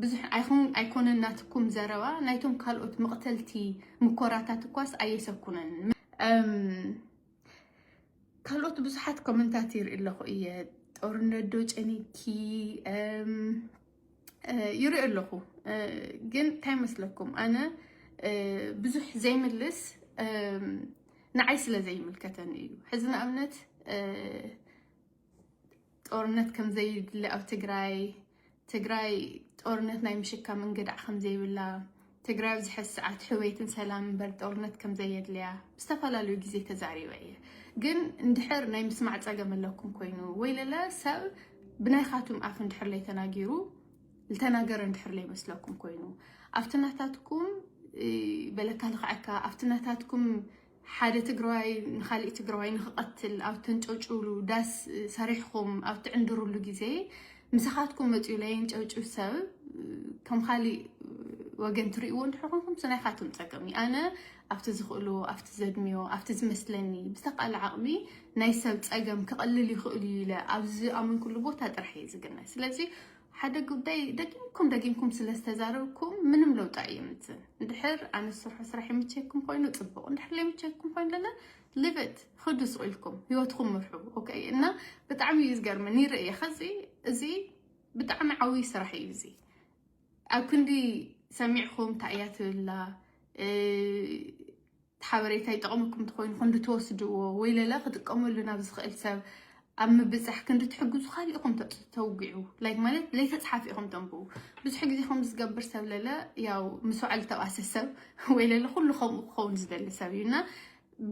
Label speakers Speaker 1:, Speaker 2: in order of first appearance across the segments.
Speaker 1: ብዙሕ ኣይኹን ኣይኮነን ናትኩም ዘረባ ናይቶም ካልኦት መቕተልቲ ምኮራታት እኳስ ኣየሰኩነንን። ካልኦት ብዙሓት ኮመንታት ይርኢ ኣለኹ እየ ጦርነት ዶ ጨኒኪ ይርኢ ኣለኹ ግን እንታይ መስለኩም ኣነ ብዙሕ ዘይምልስ ንዓይ ስለ ዘይምልከተኒ እዩ ሕዚ ንኣብነት ጦርነት ከምዘይድለ ኣብ ትግራይ ትግራይ ጦርነት ናይ ምሽካም እንግዳዕ ከምዘይብላ ትግራይ ኣብዚ ሕዚ ሰዓት ሕውየትን ሰላም እምበር ጦርነት ከምዘየድልያ ብዝተፈላለዩ ግዜ ተዛሪበ እየ ግን እንድሕር ናይ ምስማዕ ፀገም ኣለኩም ኮይኑ ወይ ለለ ሰብ ብናይኻቱም ኣፍ እንድሕር ለይ ተናጊሩ ዝተናገረ እንድሕር ለይ መስለኩም ኮይኑ ኣብቲ ናታትኩም በለካ ልኽዐካ ኣብቲ ናታትኩም ሓደ ትግራዋይ ንኻሊእ ትግራዋይ ንኽቐትል ኣብ ተንጨውጭውሉ ዳስ ሰሪሕኹም ኣብ ትዕንድሩሉ ግዜ ምሳኻትኩም መፂኡ ለየንጨውጭው ሰብ ከም ኻሊእ ወገን ትሪእዎ እንድሕር ኮንኩም እሱ ናይኻትኩም ፀገም እዩ ኣነ ኣብቲ ዝኽእሎ ኣብቲ ዘድምዮ ኣብቲ ዝመስለኒ ብዝተቃለ ዓቕሚ ናይ ሰብ ፀገም ክቐልል ይኽእል እዩ ኢለ ኣብዚ ዝኣመንኩሉ ቦታ ጥራሕ እየ ዝግነ ስለዚ ሓደ ጉዳይ ደጊምኩም ደጊምኩም ስለ ዝተዛረብኩም ምንም ለውጢ ኣየምፅን። እንድሕር ኣነ ዝሰርሖ ስራሕ ይምቸኩም ኮይኑ ፅቡቅ፣ እንድሕር ዘይምቸኩም ኮይኑ ለለ ልብት ክዱ ስቅ ኢልኩም ህይወትኩም ምርሑ። ኦኬ እና ብጣዕሚ እዩ ዝገርመኒ ይርእየ ከዚ እዚ ብጣዕሚ ዓብዪ ስራሕ እዩ እዚ ኣብ ክንዲ ሰሚዕኩም እንታይ እያ ትብላ እ፣ እቲ ሓበሬታ ይጠቕመኩም እንተኾይኑ ክንዲ ትወስድዎ ወይለለ ክጥቀመሉ ናብ ዝኽእል ሰብ ኣብ ምብጻሕ ክንዲ ትሕግዙ ካሊእ ኢኹም ተውግዑ ላይክ ማለት ለይተጽሓፍ ኢኹም ተንብቡ ብዙሕ ግዜ ከም ዝገብር ሰብ ለለ ያው ምስ ባዕሉ ተባሰ ሰብ ወይለለ ኩሉ ከምኡ ክኸውን ዝደሊ ሰብ እዩና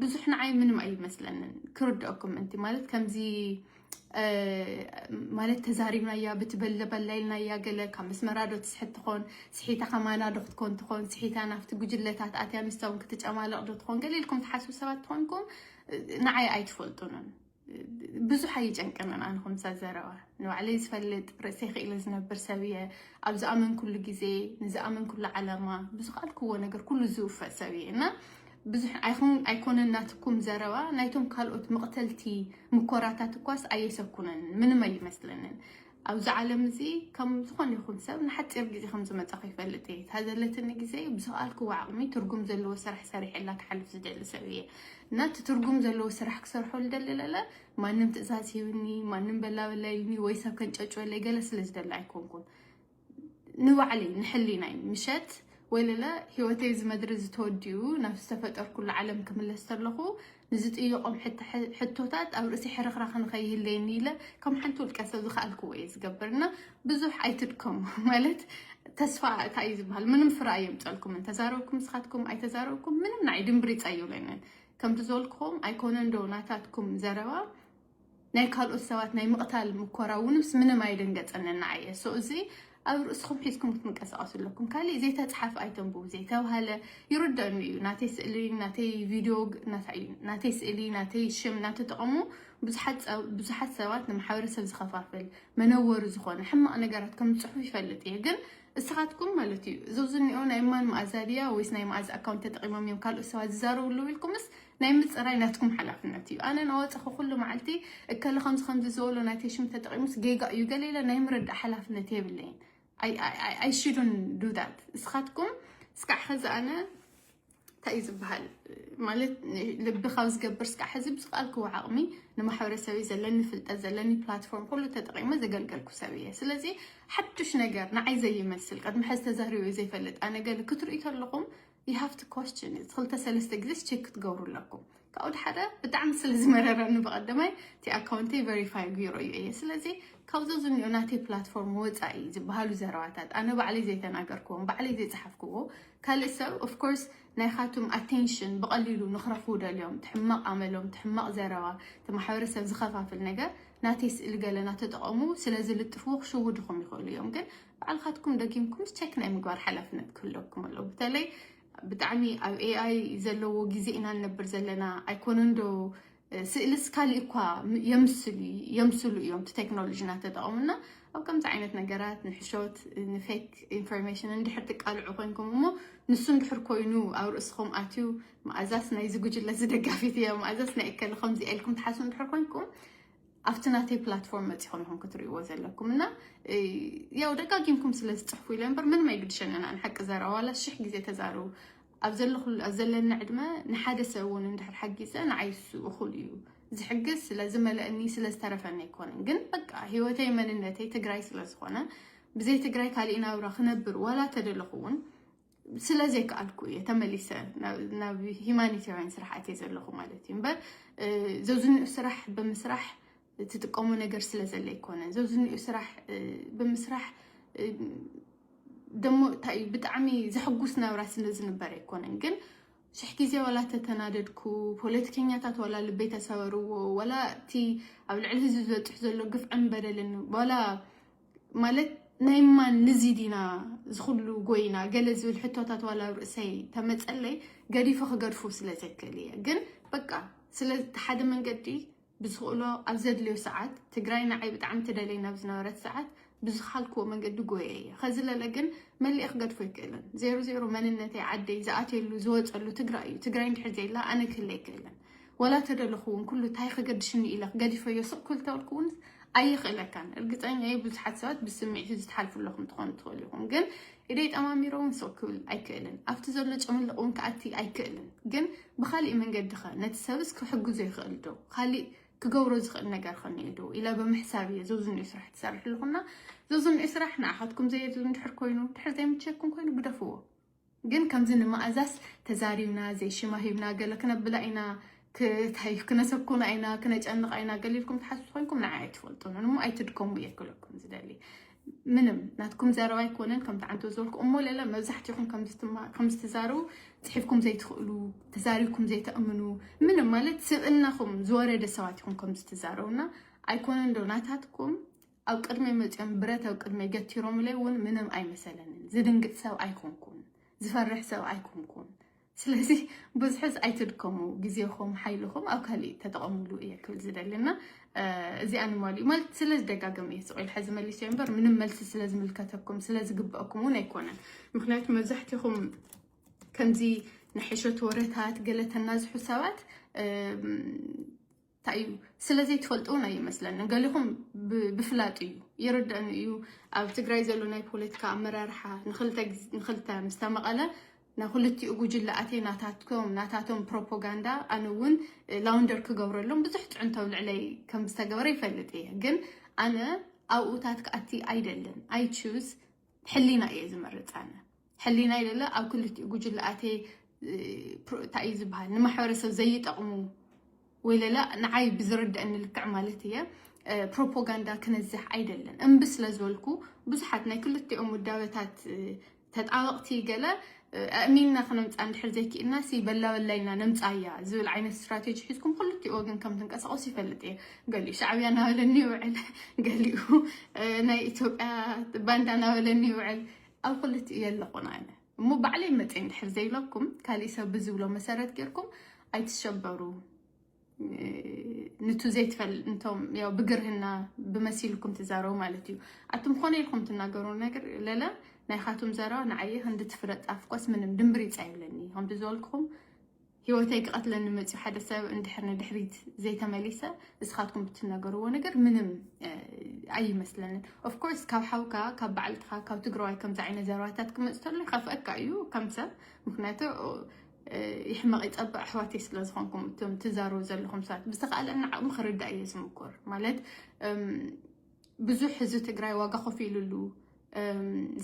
Speaker 1: ብዙሕ ንዓይ ምንም ኣይመስለንን ክርድኦኩም ምንቲ ማለት ከምዚ ማለት ተዛሪብናያ ብትበለበላ ኢልናያ ገለ ካብ መስመራ ዶ ትስሕት ትኾን ስሒታ ከማና ዶ ክትኮን ትኾን ስሒታ ናብቲ ጉጅለታት ኣትያ ምስቶም ክትጨማለቕ ዶ ትኾን ገለ ኢልኩም ትሓስቡ ሰባት ትኾንኩም ንዓይ ኣይትፈልጡንን ብዙሕ ኣይጨንቀንን ኣነ ከምሳ ዘረባ ንባዕለይ ዝፈልጥ ርእሰ ክኢለ ዝነብር ሰብ እየ ኣብ ዝኣመንኩሉ ግዜ ንዝኣመንኩሉ ዓላማ ብዝኽኣልክዎ ነገር ኩሉ ዝውፈእ ሰብ እየ እና ብዙሕ ኣይኮነን ናትኩም ዘረባ ናይቶም ካልኦት መቕተልቲ ምኮራታት እኳስ ኣየሰኩነንን ምንም ኣይመስለንን ኣብዚ ዓለም እዚ ከም ዝኾነ ይኹን ሰብ ንሓፂር ግዜ ከም ዝመፃኹ ይፈልጥ እየ እታ ዘለትኒ ግዜ ብዝኸኣልክዎ ዓቕሚ ትርጉም ዘለዎ ስራሕ ሰሪሐላ ክሓልፍ ዝደሊ ሰብ እየ እና እቲ ትርጉም ዘለዎ ስራሕ ክሰርሖ ዝደሊ ለለ ማንም ትእዛዝ ሂብኒ ማንም በላበላዩኒ ወይ ሰብ ከንጨጭወለይ ገለ ስለ ዝደሊ ኣይኮንኩን ንባዕለይ ንሕሊናይ ምሸት ወይለለ ህይወተይ እዚ መድሪ እዚ ተወዲኡ ናብ ዝተፈጠርኩሉ ዓለም ክምለስ ተለኹ ንዝጥይቖም ሕቶታት ኣብ ርእሲ ሕርኽራኽ ንኸይህለየኒ ኢለ ከም ሓንቲ ውልቀ ሰብ ዝኸኣልክዎ እየ ዝገብርና ብዙሕ ኣይትድከሙ ማለት ተስፋ እታ እዩ ዝበሃል ምንም ፍረ ኣየምፀልኩምን ተዛረብኩም ስኻትኩም ኣይተዛረብኩም ምንም ንዓይ ድምብሪፅ ኣይብለንን ከምቲ ዝበልክኹም ኣይኮነን ዶ ናታትኩም ዘረባ ናይ ካልኦት ሰባት ናይ ምቕታል ምኮራ ውንስ ምንም ኣይደንገጸንን ንዓይ እየ so እዚ ኣብ ርእስኹም ሒዝኩም ክትንቀሳቀሱ ኣለኩም ካሊእ ዘይተጽሓፍ ኣይተንብቡ ዘይተብሃለ ይርደኣኒ እዩ ናተይ ስእሊ ናተይ ቪድዮ ናታይ እዩ ናተይ ስእሊ ናተይ ሽም እናተጠቐሙ ብዙሓት ሰባት ንማሕበረሰብ ዝኸፋፍል መነወሪ ዝኾነ ሕማቕ ነገራት ከም ዝጽሑፍ ይፈልጥ እየ ግን እስኻትኩም ማለት እዩ እዞ ዝኒኦ ናይ ማን መኣዛ ድያ ወይስ ናይ መኣዛ ኣካውንት ተጠቂሞም እዮም ካልኦት ሰባት ዝዛረቡ ኣለዉ ኢልኩምስ ናይ ምፅራይ ናትኩም ሓላፍነት እዩ። ኣነ ናወፀኹ ኩሉ መዓልቲ እከለ ከምዚ ከምዚ ዝበሎ ናይ ቴሽም ተጠቂሙስ ጌጋ እዩ ገለ ኢለ ናይ ምርዳእ ሓላፍነት የብለይን። ኣይ ሽዱን ዱዳት እስኻትኩም እስካዕ ኸዚ ኣነ እንታይ እዩ ዝበሃል ማለት ልቢ ካብ ዝገብር ስካዕ ሕዚ ብዝቃልክዎ ዓቕሚ ንማሕበረሰብ ዘለኒ ፍልጠት ዘለኒ ፕላትፎርም ኩሉ ተጠቂመ ዘገልገልኩ ሰብ እየ ስለዚ ሓዱሽ ነገር ንዓይ ዘይመስል ቅድሚ ሕዚ ተዛሪበ ዘይፈልጥ ኣነገል ክትርኢ ከለኹም you have to question it ክልተ ሰለስተ ግዜስ ቼክ ክትገብሩ ኣለኩም ካብኡ ድሓደ ብጣዕሚ ስለ ዝመረረኒ ብቐደማይ እቲ ኣካውንተይ ቨሪፋይ ገይሮ እዩ እየ ስለዚ ካብዞ ዝኒኦ ናተይ ፕላትፎርም ወፃኢ ዝበሃሉ ዘረባታት ኣነ ባዕለይ ዘይተናገርክዎም ባዕለይ ዘይፀሓፍክዎ ካልእ ሰብ ኦፍኮርስ ናይ ካቱም ኣቴንሽን ብቐሊሉ ንክረኽቡ ደልዮም ትሕማቕ ኣመሎም ትሕማቕ ዘረባ እቲ ማሕበረሰብ ዝኸፋፍል ነገር ናተይ ስእሊ ገለ ናተጠቐሙ ስለ ዝልጥፍዎ ክሽውድኹም ይኽእሉ እዮም ግን ባዕልካትኩም ደጊምኩምስ ቸክ ናይ ምግባር ሓላፍነት ክህለኩም ኣለዎ። በተለይ ብጣዕሚ ኣብ ኤኣይ ዘለዎ ግዜ ኢና ንነብር ዘለና ኣይኮነን ዶ ስእልስ ካሊእ እኳ የምስሉ የምስሉ እዮም እቲ ቴክኖሎጂ እናተጠቐሙና ኣብ ከምዚ ዓይነት ነገራት ንሕሾት ንፌክ ኢንፎርሜሽን እንድሕር ትቃልዑ ኮንኩም እሞ ንሱ እንድሕር ኮይኑ ኣብ ርእስኹም ኣትዩ መኣዛስ ናይዚ ጉጅለ ዝደጋፊት እያ መኣዛስ ናይ እከለ ከምዚ ኢልኩም ትሓስቡ እንድሕር ኮንኩም ኣብቲ ናተይ ፕላትፎርም መፂኹም ይኹም ክትርእይዎ ዘለኩም እና ያው ደጋጊምኩም ስለ ዝፅሕፉ ኢለ እምበር ምንም ኣይግድሸን ኣና ንሓቂ ዘረባ ዋላ ሽሕ ግዜ ተዛርቡ ኣብ ዘለኹሉ ኣብ ዘለና ዕድመ ንሓደ ሰብ እውን እንድሕር ሓጊዘ ንዓይ እሱ እኹል እዩ ዝሕግዝ ስለ ዝመለእኒ ስለ ዝተረፈኒ ኣይኮነን ግን በቃ ሂወተይ መንነተይ ትግራይ ስለ ዝኾነ ብዘይ ትግራይ ካሊእ ናብራ ክነብር ዋላ ተደለኹ እውን ስለ ዘይከኣልኩ እየ ተመሊሰ ናብ ሂማኒታውያን ስራሓት እየ ዘለኹ ማለት እዩ እምበር ዘብዝንኡ ስራሕ ብምስራሕ ትጥቀሙ ነገር ስለ ዘለ ይኮነ ዘብዝንኡ ስራሕ ብምስራሕ ደሞ እንታይ እዩ ብጣዕሚ ዘሕጉስ ናብራ ስለ ዝንበር ኣይኮነን ግን ሽሕ ግዜ ዋላ ተተናደድኩ ፖለቲከኛታት ዋላ ልበይ ተሰበርዎ ዋላ እቲ ኣብ ልዕሊ ህዝቢ ዝበፅሕ ዘሎ ግፍዕን በደልን ዋላ ማለት ናይ ማን ንዚ ዲና ዝኩሉ ጎይና ገለ ዝብል ሕቶታት ዋላ ኣብ ርእሰይ ተመፀለይ ገዲፈ ክገድፉ ስለ ዘይክእል እየ ግን በቃ ስለ ሓደ መንገዲ ብዝኽእሎ ኣብ ዘድልዮ ሰዓት ትግራይ ንዓይ ብጣዕሚ ትደለይ ናብ ዝነበረት ሰዓት ብዝካልክዎ መንገዲ ጎየ እየ ከዚ ለለ ግን መሊኤ ክገድፎ ኣይክእልን ዜሮ ዜሮ መንነተይ ዓደይ ዝኣትየሉ ዝወፀሉ ትግራይ እዩ ትግራይ እንድሕር ዘይላ ኣነ ክህለ ኣይክእልን ወላ ተደለኹ ውን ኩሉ ታይ ከገድሽኒ ኢለ ገዲፈዮ ስቅ ክልተበልኩ ውን ኣይኽእለካን እርግፀኛ እየ ብዙሓት ሰባት ብስምዒት እዚ ትሓልፉ ኣለኹም ትኾኑ ትኽእሉ ኢኹም ግን ኢደይ ጠማሚረ ውን ስቅ ክብል ኣይክእልን ኣብቲ ዘሎ ጨምልቕ ውን ክኣቲ ኣይክእልን ግን ብኻሊእ መንገዲ ኸ ነቲ ሰብስ ክሕግዞ ይኽእል ዶ ኻሊእ ክገብሮ ዝኽእል ነገር ኸ እኒኦ ዶ ኢለ ብምሕሳብ እየ ዘዝንኡ ስራሕ ትሰርሕ ኣለኹና ዘዝንኡ ስራሕ ንዓኻትኩም ዘየድሊ እንድሕር ኮይኑ እንድሕር ዘይምቸኩም ኮይኑ ግደፍዎ ግን ከምዚ ንማኣዛስ ተዛሪብና ዘይሽማ ሂብና ገለ ክነብላ ኢና ክታይ ክነሰኩና ኢና ክነጨንቃ ኢና ገለ ኢልኩም ትሓስቡ ኮይንኩም ንዓይ ኣይትፈልጡን እሞ ኣይትድከሙ እየ ክብለኩም ዝደሊ ምንም ናትኩም ዘረባ ኣይኮነን ከምቲ ዓንቶ ዝበልኩ እሞ ለለ መብዛሕትኹም ከም ዝትዛረቡ ፅሒፍኩም ዘይትኽእሉ ተዛሪብኩም ዘይተእምኑ ምንም ማለት ስብእናኹም ዝወረደ ሰባት ይኹም ከም ዝትዛረቡና ኣይኮነን ዶ ናታትኩም ኣብ ቅድመይ መጽዮም ብረት ኣብ ቅድመይ ገቲሮምለይ ውን ምንም ኣይመሰለንን ዝድንግጽ ሰብ ኣይኮንኩን ዝፈርሕ ሰብ ኣይኮንኩን ስለዚ ብዝሕስ ኣይትድከሙ ግዜኹም ሓይልኹም ኣብ ካሊእ ተጠቐምሉ እየ ክብል ዝደሊ እና እዚኣ ንማሉ ማለት ስለ ዝደጋገም እየ ስቑኢል ሕዚ መሊሰዮ እምበር ምንም መልሲ ስለ ዝምልከተኩም ስለ ዝግበአኩም እውን ኣይኮነን ምክንያቱ መብዛሕትኹም ከምዚ ንሕሸት ወረታት ገለተናዝሑ ሰባት ታይ እዩ ስለ ዘይትፈልጡ ውን ኣይመስለንን ገሊኹም ብፍላጥ እዩ ይርደእኒ እዩ ኣብ ትግራይ ዘሎ ናይ ፖለቲካ ኣመራርሓ ንክልተ ምስ ተመቐለ ናብ ክልቲኡ ጉጅለ ኣትየ ናታትኩም ናታቶም ፕሮፓጋንዳ ኣነ እውን ላውንደር ክገብረሎም ብዙሕ ፅዕንቶ ኣብ ልዕለይ ከም ዝተገበረ ይፈልጥ እየ ግን ኣነ ኣብኡታት ክኣቲ ኣይደልን ኣይ ቹዝ ሕሊና እየ ዝመርፅ ኣነ ሕሊናይ ደለ ኣብ ክልቲኡ ጉጅለ ኣትየ እንታይ እዩ ዝበሃል ንማሕበረሰብ ዘይጠቕሙ ወይ ለለ ንዓይ ብዝርድአኒ ልክዕ ማለት እየ ፕሮፓጋንዳ ክነዝሕ ኣይደለን እምቢ ስለ ዝበልኩ ብዙሓት ናይ ክልቲኦም ውዳበታት ተጣበቕቲ ገለ ኣእሚንና ክነምጽኣ እንድሕር ዘይክኢልና ሲ በላ በላ ኢልና ነምጽኣያ ዝብል ዓይነት ስትራቴጂ ሒዝኩም ክልቲኡ ወገን ከም ትንቀሳቐሱ ይፈልጥ እየ። ገሊኡ ሻዕብያ እናበለኒ ይውዕል፣ ገሊኡ ናይ ኢትዮጵያ ባንዳ እናበለኒ ይውዕል። ኣብ ክልቲኡ የለኹን ኣነ እሞ ባዕለይ መፅየ እንድሕር ዘይለኩም ካሊእ ሰብ ብዝብሎ መሰረት ጌርኩም ኣይትሸበሩ። ንቱ ዘይትፈል እንቶም ያው ብግርህና ብመሲልኩም ትዛረቡ ማለት እዩ ኣቱም ኮነ ኢልኩም ትናገሩ ነገር ለለ ናይ ካቱም ዘረባ ንዓየ ክንዲ ትፍረጥ ኣፍኳስ ምንም ድምብሪፅ ኣይብለኒ ከምቲ ዝበልኩኹም ሂወተይ ክቐትለኒ መፅዩ ሓደ ሰብ እንድሕር ንድሕሪት ዘይተመሊሰ እስኻትኩም ብትነገርዎ ነገር ምንም ኣይመስለንን ኦፍኮርስ ካብ ሓውካ ካብ በዓልትኻ ካብ ትግራዋይ ከምዚ ዓይነት ዘረባታት ክመፅ ተሎ ይኸፍአካ እዩ ከም ሰብ ምክንያቱ ይሕመቕ ይፀብቕ ኣሕዋተይ ስለ ዝኾንኩም እቶም ትዛረቡ ዘለኹም ሰባት ብዝተኻእለና ዓቕሚ ክርዳእ እየ ዝምኩር ማለት ብዙሕ ህዝቢ ትግራይ ዋጋ ኮፍ ኢሉሉ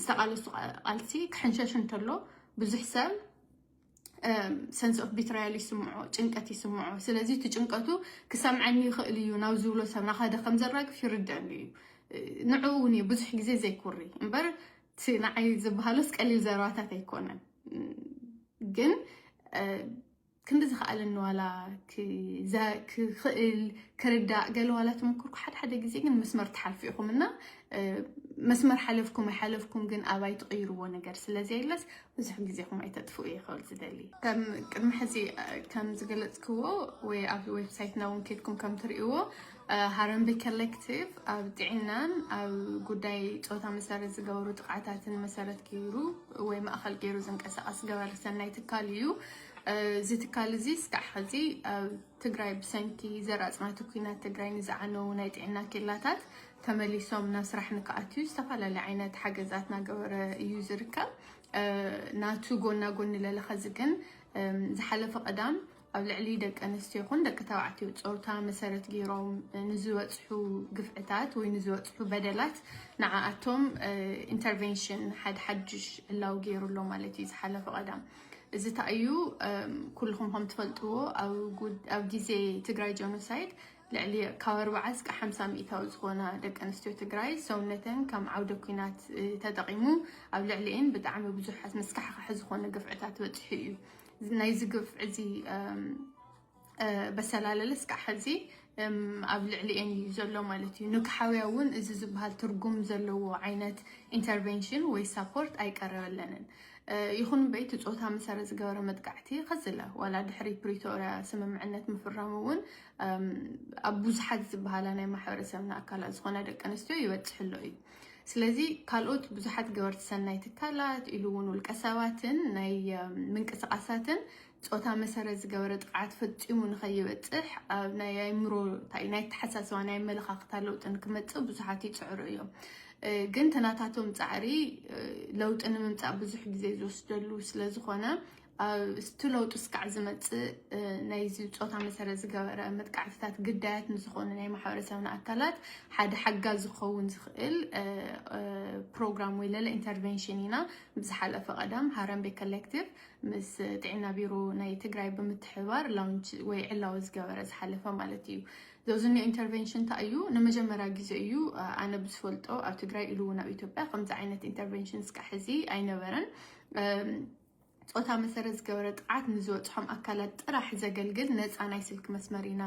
Speaker 1: ዝተቓለሱ ቃልሲ ክሕንሸሽ እንተሎ ብዙሕ ሰብ ሰንስ ኦፍ ቢትራያል ይስምዖ ጭንቀት ይስምዖ ስለዚ እቲ ጭንቀቱ ክሰምዐኒ ይኽእል እዩ ናብ ዝብሎ ሰብ ናኸደ ከም ዘራግፍ ይርድአኒ እዩ ንዕኡ እውን እዩ ብዙሕ ግዜ ዘይኩሪ እምበር እቲ ንዓይ ዝበሃሎስ ቀሊል ዘረባታት ኣይኮነን ግን ክንዲ ዝኸኣለኒ ዋላ ክኽእል ክርዳእ ገለ ዋላ ተመክርኩ ሓደ ሓደ ግዜ ግን መስመር ትሓልፉ ኢኹም እና መስመር ሓለፍኩም ኣይሓለፍኩም ግን ኣብ ኣይትቕይርዎ ነገር ስለዘየለስ ብዙሕ ግዜኹም ኣይተጥፍኡ እየ ክብል ዝደሊ ከም ቅድሚ ሕዚ ከም ዝገለፅክዎ ወይ ኣብ ዌብሳይትና እውን ከድኩም ከም ትርእይዎ ሃረምቤ ኮሌክቲቭ ኣብ ጥዒናን ኣብ ጉዳይ ፆታ መሰረት ዝገበሩ ጥቕዓታትን መሰረት ገይሩ ወይ ማእኸል ገይሩ ዝንቀሳቐስ ገበረ ሰናይ ትካል እዩ። እዚ ትካል እዚ እስካዕ ሕዚ ኣብ ትግራይ ብሰንኪ ዘራፅናቱ ኩናት ትግራይ ንዝዓነው ናይ ጥዕና ኬላታት ተመሊሶም ናብ ስራሕ ንክኣትዩ ዝተፈላለዩ ዓይነት ሓገዛት ናገበረ እዩ ዝርከብ ናቱ ጎና ጎኒ ለለኸዚ ግን ዝሓለፈ ቀዳም ኣብ ልዕሊ ደቂ ኣንስትዮ ይኹን ደቂ ተባዕትዮ ፆታ መሰረት ገይሮም ንዝበፅሑ ግፍዕታት ወይ ንዝበፅሑ በደላት ንዓኣቶም ኢንተርቬንሽን ሓደ ሓድሽ ዕላዊ ገይሩ ኣሎ ማለት እዩ ዝሓለፈ ቀዳም እዚ እታ እዩ ኩልኹም ከም ትፈልጥዎ ኣብ ግዜ ትግራይ ጀኖሳይድ ልዕሊ ካብ ኣርባዓ እስከ ሓምሳ ሚእታዊ ዝኾና ደቂ ኣንስትዮ ትግራይ ሰውነተን ከም ዓውደ ኩናት ተጠቂሙ ኣብ ልዕሊኤን ብጣዕሚ ብዙሓት መስካሕካሒ ዝኾነ ግፍዕታት በፂሑ እዩ ናይዚ ግፍዒ እዚ በሰላለለ እስካዕ ሕዚ ኣብ ልዕሊኤን እዩ ዘሎ ማለት እዩ ንክሓውያ እውን እዚ ዝበሃል ትርጉም ዘለዎ ዓይነት ኢንተርቨንሽን ወይ ሳፖርት ኣይቀረበለንን ይኹን እምበይ እቲ ፆታ መሰረት ዝገበረ መጥቃዕቲ ከዝለ ዋላ ድሕሪ ፕሪቶርያ ስምምዕነት ምፍራሙ እውን ኣብ ብዙሓት ዝበሃላ ናይ ማሕበረሰብና ኣካላት ዝኾነ ደቂ ኣንስትዮ ይበፅሕሎ እዩ ስለዚ ካልኦት ብዙሓት ገበርቲ ሰናይ ትካላት ኢሉ እውን ውልቀ ሰባትን ናይ ምንቅስቃሳትን ፆታ መሰረት ዝገበረ ጥቅዓት ፈፂሙ ንኸይበፅሕ ኣብ ናይ ኣእምሮ እንታይ ናይ ኣተሓሳስባ ናይ ኣመለኻኽታ ለውጢ ንክመፅእ ብዙሓት ይፅዕሩ እዮም ግን ተናታቶም ፃዕሪ ለውጢ ንምምፃእ ብዙሕ ግዜ ዝወስደሉ ስለዝኾነ እቲ ለውጢ ስካዕ ዝመፅእ ናይዚ ፆታ መሰረት ዝገበረ መጥቃዕትታት ግዳያት ንዝኾኑ ናይ ማሕበረሰብና ኣካላት ሓደ ሓጋዚ ዝኸውን ዝኽእል ፕሮግራም ወይ ለለ ኢንተርቬንሽን ኢና ብዝሓለፈ ቀደም ሃረምቤ ኮሌክቲቭ ምስ ጥዕና ቢሮ ናይ ትግራይ ብምትሕብባር ላውንች ወይ ዕላዊ ዝገበረ ዝሓለፈ ማለት እዩ ዘውዝኒኦ ኢንተርቬንሽን እንታይ እዩ ንመጀመርያ ግዜ እዩ ኣነ ብዝፈልጦ ኣብ ትግራይ ኢሉ እውን ኣብ ኢትዮጵያ ከምዚ ዓይነት ኢንተርቬንሽን እስካዕ ሕዚ ኣይነበረን ፆታ መሰረት ዝገበረ ጥቅዓት ንዝበፅሖም ኣካላት ጥራሕ ዘገልግል ነፃ ናይ ስልኪ መስመር ኢና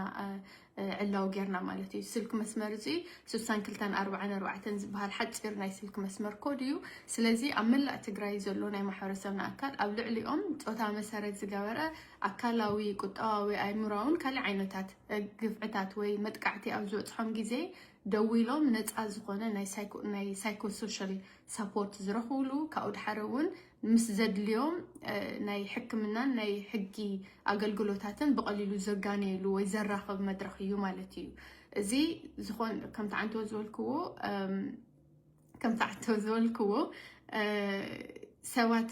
Speaker 1: ዕላዊ ጌርና ማለት እዩ። ስልኪ መስመር እዚ ስሳን ክልተን ኣርባዓን ኣርባዕተን ዝበሃል ሓፂር ናይ ስልኪ መስመር ኮድ እዩ። ስለዚ ኣብ መላእ ትግራይ ዘሎ ናይ ማሕበረሰብና ኣካል ኣብ ልዕሊኦም ፆታ መሰረት ዝገበረ ኣካላዊ፣ ቁጠባዊ፣ ኣእምሮኣውን ካሊእ ዓይነታት ግፍዕታት ወይ መጥቃዕቲ ኣብ ዝበፅሖም ግዜ ደዊሎም ነፃ ዝኾነ ናይ ሳይኮ ሶሻል ሳፖርት ዝረኽብሉ ካብኡ ድሓር እውን ምስ ዘድልዮም ናይ ሕክምናን ናይ ሕጊ ኣገልግሎታትን ብቐሊሉ ዘጋነየሉ ወይ ዘራኽብ መድረኽ እዩ ማለት እዩ። እዚ ዝኾን ከምቲ ዓንተወት ዝበልክዎ ከምቲ ዓንተወት ዝበልክዎ ሰባት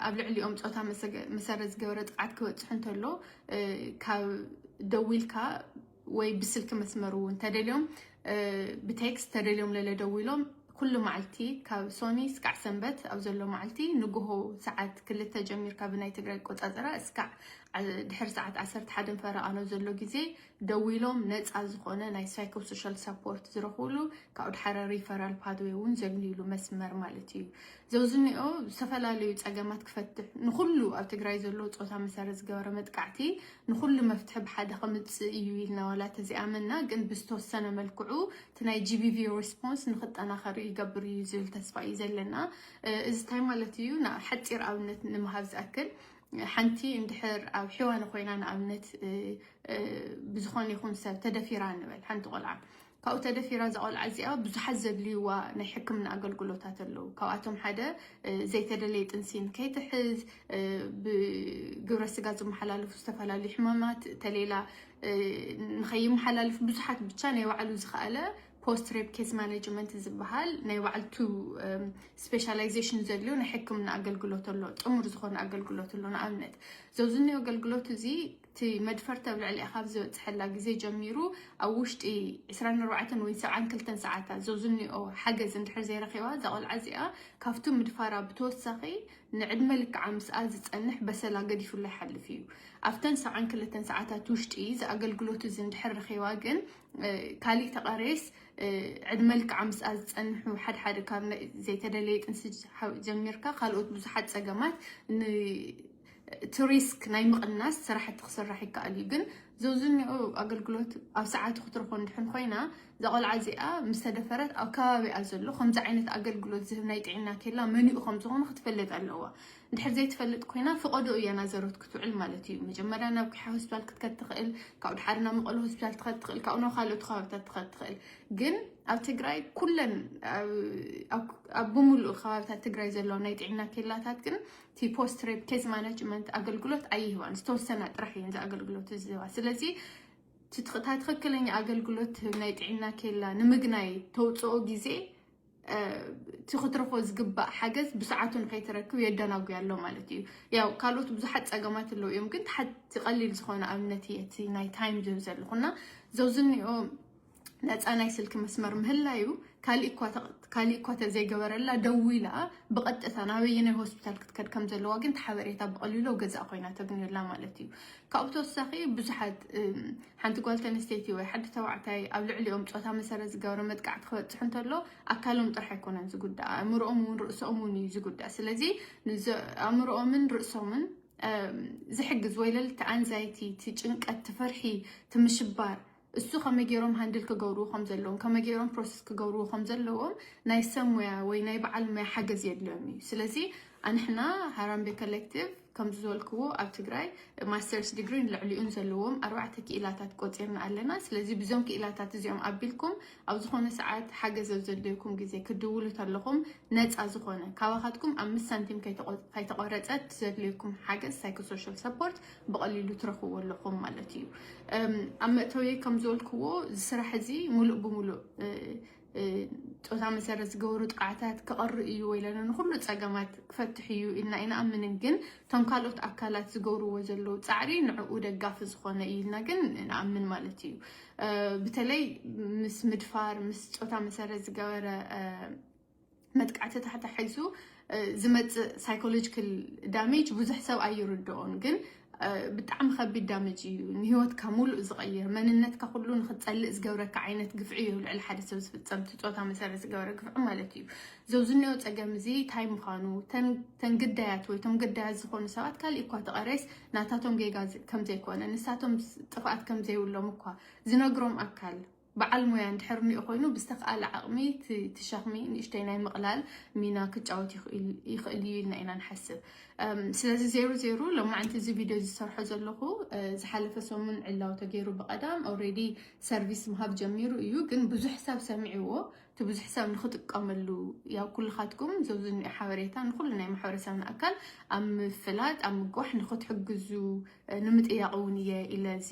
Speaker 1: ኣብ ልዕሊኦም ፆታ መሰረት ዝገበረ ጥቅዓት ክበፅሑ እንተሎ ካብ ደዊልካ ወይ ብስልኪ መስመር እውን ተደልዮም ብቴክስት ተደልዮም ለለ ደዊሎም ኩሉ መዓልቲ ካብ ሶኒ እስካዕ ሰንበት ኣብ ዘሎ መዓልቲ ንግሆ ሰዓት ክልተ ጀሚርካ ብናይ ትግራይ ቆፃፀራ እስካዕ ድሕሪ ሰዓት ዓሰርተ ሓደን ፈረቓኖ ዘሎ ግዜ ደዊሎም ነፃ ዝኾነ ናይ ሳይኮሶሻል ሳፖርት ዝረኽብሉ ካብኡ ድሓረ ሪፈራል ፓትዌ እውን ዘግንዩሉ መስመር ማለት እዩ ዘውዝንኦ ዝተፈላለዩ ፀገማት ክፈትሕ ንኹሉ ኣብ ትግራይ ዘሎ ፆታ መሰረት ዝገበረ መጥቃዕቲ ንኹሉ መፍትሒ ብሓደ ከምፅእ እዩ ኢልና ዋላ ተዘይኣመና ግን ብዝተወሰነ መልክዑ እቲ ናይ ጂቢቪ ሬስፖንስ ንክጠናኸር ይገብር እዩ ዝብል ተስፋ እዩ ዘለና እዚ ታይ ማለት እዩ ሓፂር ኣብነት ንምሃብ ዝኣክል ሓንቲ እንድሕር ኣብ ሕዋነ ኮይና ንኣብነት ብዝኾነ ይኹን ሰብ ተደፊራ ንበል ሓንቲ ቆልዓ ካብኡ ተደፊራ እዛ ቆልዓ እዚኣ ብዙሓት ዘድልዩዋ ናይ ሕክምና ኣገልግሎታት ኣለው። ካብኣቶም ሓደ ዘይተደለየ ጥንሲ ንከይትሕዝ፣ ብግብረ ስጋ ዝመሓላለፉ ዝተፈላለዩ ሕማማት ተሌላ ንከይመሓላልፍ ብዙሓት ብቻ ናይ ባዕሉ ዝኸኣለ ፖስት ሬፕ ኬስ ማኔጅመንት ዝበሃል ናይ ባዕልቱ ስፔሻላይዜሽን ዘድልዮ ናይ ሕክምና ኣገልግሎት ኣሎ ጥሙር ዝኾነ ኣገልግሎት ኣሎ ንኣብነት ዘብዚ እኒኦ ኣገልግሎት እዚ እቲ መድፈርቲ ኣብ ልዕሊኣ ካብ ዝበፅሐላ ግዜ ጀሚሩ ኣብ ውሽጢ ዕስራን ኣርባዕተን ወይ ሰብዓን ክልተን ሰዓታት ዘዙኒኦ ሓገዝ እንድሕር ዘይረኺባ እዛ ቆልዓ እዚኣ ካብቱ ምድፋራ ብተወሳኺ ንዕድመ ልክዓ ምስኣ ዝፀንሕ በሰላ ገዲፉላ ይሓልፍ እዩ። ኣብተን ሰብዓን ክልተን ሰዓታት ውሽጢ እዚ ኣገልግሎት እዚ እንድሕር ረኺባ ግን ካሊእ ተቐሬስ ዕድመ ልክዓ ምስኣ ዝፀንሑ ሓድሓደ ካብ ዘይተደለየ ጥንሲ ጀሚርካ ካልኦት ብዙሓት ፀገማት ን እቲ ሪስክ ናይ ምቕናስ ስራሕቲ ክስራሕ ይከኣል እዩ ግን ዘብዝኒዑ ኣገልግሎት ኣብ ሰዓቱ ክትረኽቦ እንድሕን ኮይና እዛ ቆልዓ እዚኣ ምስ ተደፈረት ኣብ ከባቢኣ ዘሎ ከምዚ ዓይነት ኣገልግሎት ዝህብ ናይ ጥዕና ኬላ መንኡ ከም ዝኾነ ክትፈልጥ ኣለዋ እንድሕር ዘይትፈልጥ ኮይና ፍቐዶ እያ ናዘሮት ክትውዕል ማለት እዩ መጀመርያ ናብ ኪሓ ሆስፒታል ክትከድ ትኽእል ካብኡ ድሓር ናብ መቐለ ሆስፒታል ትኸድ ትኽእል ካብኡ ናብ ካልኦት ከባቢታት ትኸድ ትኽእል ግን ኣብ ትግራይ ኩለን ኣብ ብምሉእ ከባቢታት ትግራይ ዘለዋ ናይ ጥዕና ኬላታት ግን እቲ ፖስት ሬፕ ኬዝ ማናጅመንት ኣገልግሎት ኣይህባን ዝተወሰና ጥራሕ እየን እዚ ኣገልግሎት እዚ ዝህባ ስለዚ ትትቕታ ትኽክለኛ ኣገልግሎት ትህብ ናይ ጥዕና ኬላ ንምግናይ ተውፅኦ ግዜ እቲ ክትረኽቦ ዝግባእ ሓገዝ ብሰዓቱ ንከይትረክብ የደናጉያ ኣሎ ማለት እዩ ያው ካልኦት ብዙሓት ፀገማት ኣለዉ እዮም ግን ተሓቲ ቀሊል ዝኾነ ኣብነት እየ እቲ ናይ ታይም ዝህብ ዘለኹና ዘውዝኒኦ ነፃ ናይ ስልኪ መስመር ምህላዩ ካሊእ እኳ ተዘይገበረላ ደዊላ ብቐጥታ ናበየናይ ሆስፒታል ክትከድ ከም ዘለዋ ግን ሓበሬታ ብቐሊሉ ኣብ ገዛእ ኮይና ተግንየላ ማለት እዩ ካብኡ ተወሳኺ ብዙሓት ሓንቲ ጓል ተንስተይቲ ወይ ሓዲ ተባዕታይ ኣብ ልዕሊኦም ፆታ መሰረት ዝገበረ መጥቃዕቲ ክበፅሑ እንተሎ ኣካሎም ጥራሕ ኣይኮነን ዝጉዳእ ኣእምሮኦም እውን ርእሶም እውን እዩ ዝጉዳእ ስለዚ ኣእምሮኦምን ርእሶምን ዝሕግዝ ወይ ለልቲ ኣንዛይቲ ትጭንቀት ትፍርሒ ትምሽባር እሱ ከመይ ገይሮም ሃንድል ክገብርዎ ከም ዘለዎም፣ ከመይ ገይሮም ፕሮሰስ ክገብርዎ ከም ዘለዎም ናይ ሰብ ሞያ ወይ ናይ በዓል ሞያ ሓገዝ የድልዮም እዩ። ስለዚ ኣንሕና ሃራምቤ ኮሌክቲቭ ከምዚ ዝበልክዎ ኣብ ትግራይ ማስተርስ ዲግሪን ልዕሊኡን ዘለዎም ኣርባዕተ ክኢላታት ቆፂርና ኣለና። ስለዚ ብዞም ክኢላታት እዚኦም ኣቢልኩም ኣብ ዝኾነ ሰዓት ሓገዝ ኣብ ዘድልየኩም ግዜ ክትድውሉ ተለኹም ነፃ ዝኾነ ካባኻትኩም ኣምስት ሳንቲም ከይተቖረፀት ዘድልየኩም ሓገዝ ሳይኮሶሻል ሰፖርት ብቐሊሉ ትረኽብዎ ኣለኹም ማለት እዩ። ኣብ መእተውየይ ከም ዝበልክዎ እዚ ስራሕ እዚ ሙሉእ ብሙሉእ ፆታ መሰረት ዝገበሩ ጥቕዓታት ክቐሪ እዩ ወይ ለለ ንኩሉ ፀገማት ክፈትሕ እዩ ኢልና ኣይንኣምንን። ግን እቶም ካልኦት ኣካላት ዝገብርዎ ዘለዉ ፃዕሪ ንዕኡ ደጋፊ ዝኾነ እዩ ኢልና ግን ንኣምን ማለት እዩ። በተለይ ምስ ምድፋር ምስ ፆታ መሰረት ዝገበረ መጥቃዕቲ ተታሒዙ ዝመፅእ ሳይኮሎጂካል ዳሜጅ ብዙሕ ሰብ ኣይርድኦን ግን ብጣዕሚ ከቢድ ዳመጅ እዩ ንሂወትካ ሙሉእ ዝቐይር መንነትካ ኩሉ ንክትፀልእ ዝገብረካ ዓይነት ግፍዒ እዩ ልዕሊ ሓደ ሰብ ዝፍፀም እቲ ፆታ መሰረት ዝገበረ ግፍዒ ማለት እዩ ዘብዝኒኦ ፀገም እዚ እንታይ ምዃኑ ተን ግዳያት ወይ ቶም ግዳያት ዝኾኑ ሰባት ካሊእ እኳ ተቐረይስ ናታቶም ጌጋ ከምዘይኮነ ንሳቶም ጥፍኣት ከምዘይብሎም እኳ ዝነግሮም ኣካል በዓል ሞያ እንድሕር እኒኦ ኮይኑ ብዝተኽኣለ ዓቕሚ እቲ ሸኽሚ ንእሽተይ ናይ ምቕላል ሚና ክጫወት ይኽእል እዩ ኢልና ኢና ንሓስብ። ስለዚ ዜሩ ዜሩ ሎማዕንቲ እዚ ቪድዮ ዝሰርሖ ዘለኹ ዝሓለፈ ሰሙን ዕላው ተገይሩ ብቐዳም ኦልሬዲ ሰርቪስ ምሃብ ጀሚሩ እዩ፣ ግን ብዙሕ ሰብ ሰሚዕዎ እቲ ብዙሕ ሰብ ንክጥቀመሉ ያው ኩልኻትኩም ዘብዚ ንኦ ሓበሬታ ንኩሉ ናይ ማሕበረሰብና ኣካል ኣብ ምፍላጥ ኣብ ምግዋሕ ንክትሕግዙ ንምጥያቕ እውን እየ ኢለ እዚ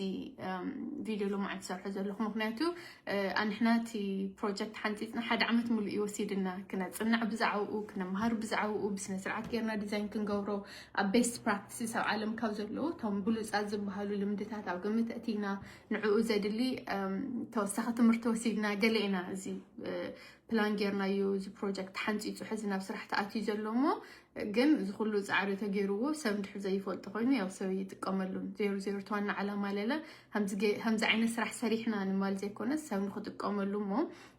Speaker 1: ቪድዮ ሎማዓንቲ ዝሰርሖ ዘለኹ ምክንያቱ ኣንሕና እቲ ፕሮጀክት ሓንፂፅና ሓደ ዓመት ሙሉእ እዩ ወሲድና ክነፅናዕ ብዛዕባኡ ክነምሃር ብዛዕባኡ ብስነ ስርዓት ጌርና ዲዛይን ክንገብሮ ኣብ ቤስት ፕራክቲስስ ኣብ ዓለም ካብ ዘለዉ እቶም ብሉፃት ዝበሃሉ ልምድታት ኣብ ግምት ኣእቲና ንዕኡ ዘድሊ ተወሳኺ ትምህርቲ ወሲድና ገለ ኢና እዚ ፕላን ጌርናዩ እዚ ፕሮጀክት ሓንፂፁ ሕዚ ናብ ስራሕ ተኣትዩ ዘሎ እሞ ግን እዚ ኩሉ ፃዕሪ ተገይርዎ ሰብ እንድሕር ዘይፈልጦ ኮይኑ ያው ሰብ ይጥቀመሉን ዜሮ ዜሮ ተዋና ዓላማ ለለ ከምዚ ዓይነት ስራሕ ሰሪሕና ንማል ዘይኮነ ሰብ ንክጥቀመሉ እሞ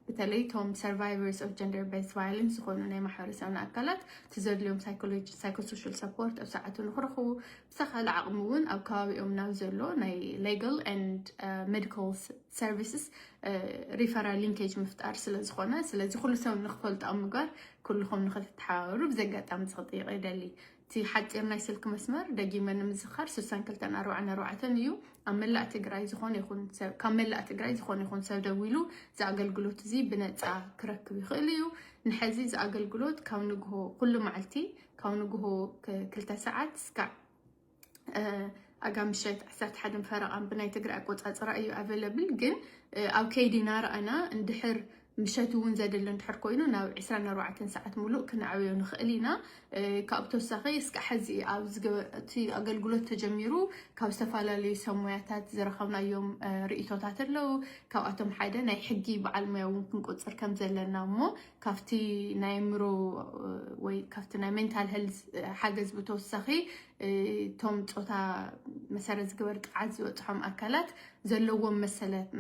Speaker 1: በተለይ ቶም ሰርቫይቨርስ ኦፍ ጀንደር ቤዝ ቫዮለንስ ዝኾኑ ናይ ማሕበረሰብና ኣካላት ትዘድልዮም ሳይኮሎጂ ሳይኮሶሻል ሰፖርት ኣብ ሰዓቱ ንክረኽቡ ብዝተኻለ ዓቕሚ እውን ኣብ ከባቢኦም ናብ ዘሎ ናይ ሌጋል ኤንድ ሜዲካል ሰርቪስስ ሪፈራል ሊንኬጅ ምፍጣር ስለዝኾነ ስለዚ ኩሉ ሰብ ንክፈልጡ ኣብ ምግባር ኩልኹም ንክትተሓባበሩ ብዚ ኣጋጣሚ እዚ ክጥይቕ ይደሊ። እቲ ሓፂር ናይ ስልኪ መስመር ደጊመ ንምዝኻር 6244 እዩ። ኣብ መላእ ትግራይ ዝኾነ ይኹን ሰብ ካብ መላእ ትግራይ ዝኾነ ይኹን ሰብ ደዊሉ እዚ ኣገልግሎት እዚ ብነፃ ክረክብ ይኽእል እዩ። ንሐዚ እዚ ኣገልግሎት ካብ ንግሆ ኩሉ መዓልቲ ካብ ንግሆ ክልተ ሰዓት እስካዕ ኣጋ ምሸት ዓሰርተ ሓደን ፈረቓን ብናይ ትግራይ ኣቆፃፅራ እዩ ኣቨለብል ግን ኣብ ከይዲ እናረኣና እንድሕር ምሸት እውን ዘድሊ እንድሕር ኮይኑ ናብ 24 ሰዓት ሙሉእ ክንዕብዮ ንኽእል ኢና ካብ ተወሳኺ እስከ ሕዚ ኣብቲ ኣገልግሎት ተጀሚሩ ካብ ዝተፈላለዩ ሰሙያታት ዝረኸብናዮም ርእቶታት ኣለው ካብኣቶም ሓደ ናይ ሕጊ በዓል ሙያ እውን ክንቆፅር ከም ዘለና እሞ ካብቲ ናይ ኣእምሮ ወይ ካብቲ ናይ ሜንታል ሄልዝ ሓገዝ ብተወሳኺ እቶም ፆታ መሰረት ዝገበር ጥዓት ዝበፅሖም ኣካላት ዘለዎም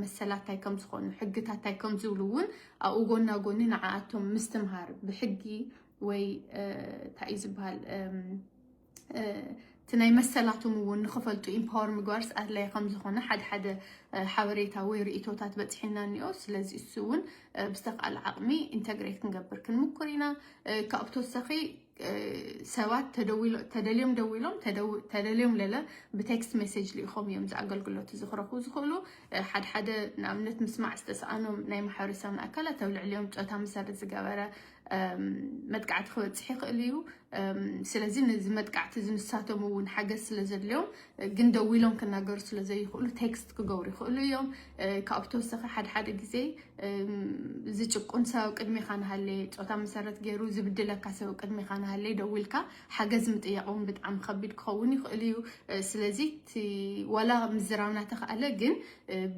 Speaker 1: መሰላት ታይ ከም ዝኾኑ ሕግታት ታይ ከም ዝብሉ እውን ኣብኡ ጎና ጎኒ ንዓኣቶም ምስትምሃር ብሕጊ ወይ እንታይ እዩ ዝበሃል እቲ ናይ መሰላቶም እውን ንክፈልጡ ኢምፓወር ምግባርስ ኣድላይ ከምዝኾነ ሓደ ሓደ ሓበሬታ ወይ ርእቶታት በፅሒና እኒኦ ስለዚ እሱ እውን ብዝተካኣለ ዓቕሚ ኢንተግሬት ክንገብር ክንምኩር ኢና ካብኡ ብተወሳኺ ሰባት ተደልዮም ደዊሎም ተደልዮም ለለ ብቴክስት ሜሴጅ ልኢኾም እዮም እዚ ኣገልግሎት እዚ ክረኽቡ ዝኽእሉ ሓደ ሓደ ንኣብነት ምስማዕ ዝተሰኣኖም ናይ ማሕበረሰብና ኣካላት ኣብ ልዕሊኦም ፆታ መሰረት ዝገበረ መጥቃዕቲ ክበፅሕ ይኽእል እዩ። ስለዚ ነዚ መጥቃዕቲ እዚ ንሳቶም እውን ሓገዝ ስለ ዘድልዮም ግን ደው ኢሎም ክናገሩ ስለ ዘይኽእሉ ቴክስት ክገብሩ ይኽእሉ እዮም። ካብኡ ተወሰኺ ሓደ ሓደ ግዜ ዝጭቁን ሰብ ቅድሜኻ ንሃለየ ፆታ መሰረት ገይሩ ዝብድለካ ሰብ ቅድሜኻ ንሃለየ ደው ኢልካ ሓገዝ ምጥያቕ እውን ብጣዕሚ ከቢድ ክኸውን ይኽእል እዩ። ስለዚ እቲ ዋላ ምዝራብ እናተኽኣለ ግን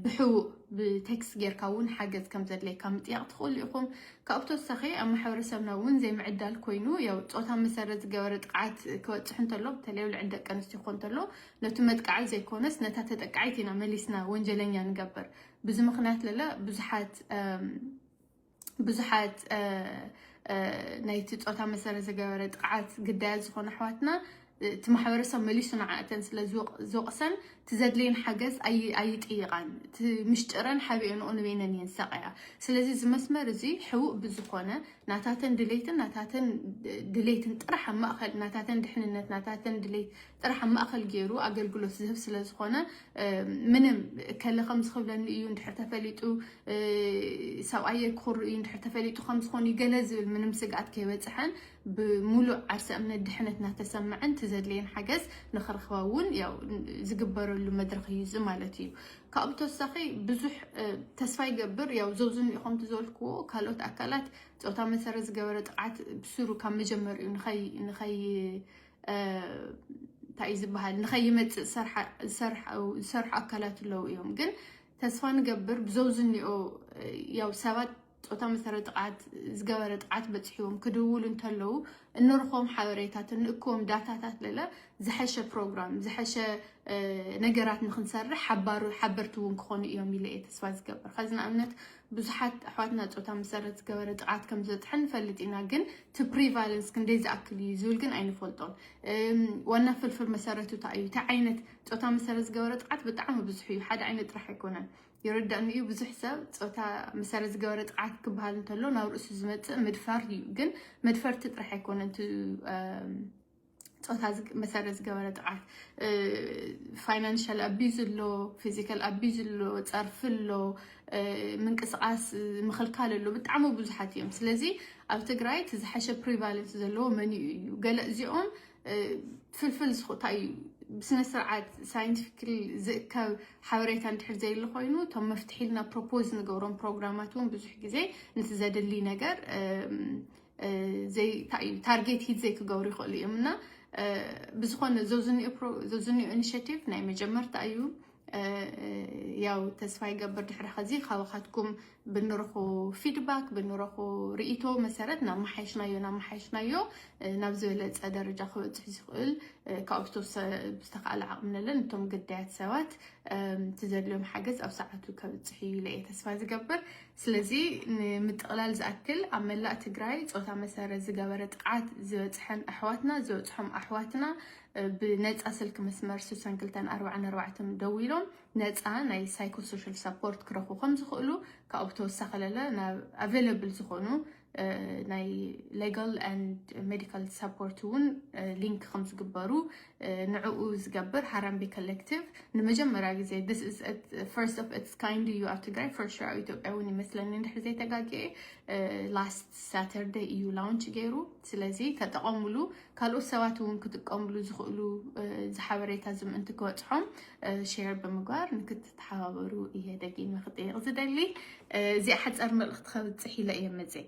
Speaker 1: ብሕቡእ ብቴክስት ጌርካ እውን ሓገዝ ከም ዘድልየካ ምጥያቕ ትኽእሉ ኢኹም። ካብኡ ብተወሳኺ ኣብ ማሕበረሰብና እውን ዘይምዕዳል ኮይኑ ያው ፆታ መሰረት ዝገበረ ጥቕዓት ክበፅሕ እንተሎ በተለይ ኣብ ልዕሊ ደቂ ኣንስትዮ ክኾን እንተሎ ነቱ መጥቃዒ ዘይኮነስ ነታ ተጠቃዒት ኢና መሊስና ወንጀለኛ ንገበር ብዙ ምክንያት ለለ ብዙሓት ብዙሓት ናይቲ ፆታ መሰረት ዝገበረ ጥቕዓት ግዳያት ዝኾኑ ኣሕዋትና እቲ ማሕበረሰብ መሊሱ ንዓ እተን ስለ ዝወቕሰን እቲ ዘድልየን ሓገዝ ኣይጥይቓን እቲ ምሽጥረን ሓቢኤንኦ ንበይነን እየን ዝሳቐያ ስለዚ እዚ መስመር እዚ ሕቡእ ብዝኾነ ናታተን ድሌትን ናታተን ድሌትን ጥራሕ ኣብ ማእኸል ናታተን ድሕንነት ናታተን ድሌት ጥራሕ ኣብ ማእኸል ገይሩ ኣገልግሎት ዝህብ ስለ ዝኾነ ምንም ከለ ከም ዝኽብለኒ እዩ እንድሕር ተፈሊጡ ሰብኣየ ክኽሩ እዩ እንድሕር ተፈሊጡ ከም ዝኾኑ ገለ ዝብል ምንም ስግኣት ከይበፅሐን ብምሉእ ዓርሰ እምነት ድሕነት እናተሰመዐን እቲ ዘድልየን ሓገዝ ንክረኽባ እውን ዝግበረሉ መድረኽ እዩ እዚ ማለት እዩ። ካብኡ ብተወሳኺ ብዙሕ ተስፋ ይገብር ያው ዘውዝኑ ኢኹምቲ ዝበልክዎ ካልኦት ኣካላት ፆታ መሰረት ዝገበረ ጥቕዓት ብስሩ ካብ መጀመሪኡ ንኸይ እንታይ እዩ ዝበሃል ንኸይመፅእ ዝሰርሑ ኣካላት ኣለዉ እዮም ግን ተስፋ ንገብር ብዘው ዝኒኦ ያው ሰባት ፆታ መሰረት ጥቕዓት ዝገበረ ጥቕዓት በፅሕዎም ክድውሉ እንተለዉ እንርኽቦም ሓበሬታት እንእክቦም ዳታታት ለለ ዝሐሸ ፕሮግራም ዝሐሸ ነገራት ንክንሰርሕ ሓባሩ ሓበርቲ እውን ክኾኑ እዮም ኢለ እየ ተስፋ ዝገብር ከዚ ንኣብነት ብዙሓት ኣሕዋትና ፆታ መሰረት ዝገበረ ጥቕዓት ከም ዝበፅሐ ንፈልጥ ኢና ግን እቲ ፕሪቫለንስ ክንደይ ዝኣክል እዩ ዝብል ግን ኣይንፈልጦን ዋና ፍልፍል መሰረቱ እንታይ እዩ እቲ ዓይነት ፆታ መሰረት ዝገበረ ጥቕዓት ብጣዕሚ ብዙሕ እዩ ሓደ ዓይነት ጥራሕ ኣይኮነን ይርዳእኒ እዩ ብዙሕ ሰብ ፆታ መሰረት ዝገበረ ጥቅዓት ክበሃል እንተሎ ናብ ርእሱ ዝመፅእ ምድፋር እዩ ግን መድፈርቲ ጥራሕ ኣይኮነን ፆታ መሰረት ዝገበረ ጥቅዓት ፋይናንሻል ኣቢዝ ኣሎ ፊዚካል ኣቢዝ ኣሎ ፀርፊ ኣሎ ምንቅስቃስ ምክልካል ኣሎ ብጣዕሚ ብዙሓት እዮም ስለዚ ኣብ ትግራይ እቲ ዝሓሸ ፕሪቫለንስ ዘለዎ መን እዩ ገለ እዚኦም ፍልፍል ስኩታ እዩ ብስነ ስርዓት ሳይንቲፊክ ዝእከብ ሓበሬታ እንድሕር ዘይሉ ኮይኑ እቶም መፍትሒ ኢልና ፕሮፖዝ ንገብሮም ፕሮግራማት እውን ብዙሕ ግዜ ነቲ ዘድሊ ነገር ታርጌት ሂት ዘይክገብሩ ይኽእሉ እዮም እና ብዝኾነ ዘዝኒኦ ኢኒሽቲቭ ናይ መጀመርታ እዩ ያው ተስፋ ይገብር ድሕሪ ከዚ ካባኻትኩም ብንረኹ ፊድባክ ብንረኹ ርኢቶ መሰረት ናመሓየሽናዮ ናመሓየሽናዮ ናብ ዝበለፀ ደረጃ ክበፅሕ ዝኽእል ካብኡ ዝተወሰ ዝተኽኣለ ዓቕሚ ነለን እቶም ግዳያት ሰባት እቲ ዘድልዮም ሓገዝ ኣብ ሰዓቱ ከብፅሕ እዩ ኢለ እየ ተስፋ ዝገብር ስለዚ ንምጥቕላል ዝኣክል ኣብ መላእ ትግራይ ፆታ መሰረት ዝገበረ ጥቕዓት ዝበፅሐን ኣሕዋትና ዝበፅሖም ኣሕዋትና ብነፃ ስልኪ መስመር 6244 ደዊሎም ነፃ ናይ ሳይኮ ሶሻል ሳፖርት ክረኽቡ ከም ዝኽእሉ ካብኡ ብተወሳኺ ለለ ናብ ኣቬለብል ዝኾኑ ናይ ሌጋል ኣንድ ሜዲካል ሳፖርት እውን ሊንክ ከም ዝግበሩ ንዕኡ ዝገብር ሃራምቤ ኮሌክቲቭ ንመጀመርያ ግዜ ፈርስት ኦፍ ኢትስ ካይንድ እዩ ኣብ ትግራይ ፈርስት ኣብ ኢትዮጵያ እውን ይመስለኒ እንድሕር ዘይተጋግየ ላስት ሳተርደይ እዩ ላውንች ገይሩ ስለዚ ተጠቐሙሉ ካልኦት ሰባት እውን ክጥቀምሉ ዝኽእሉ እዚ ሓበሬታ እዚ ምእንቲ ክበፅሖም ሼር ብምግባር ንክትተሓባበሩ እየ ደጊመ ክጠይቕ ዝደሊ እዚኣ ሓፃር መልእኽቲ ከብፅሕ ኢለ እየ መፅእ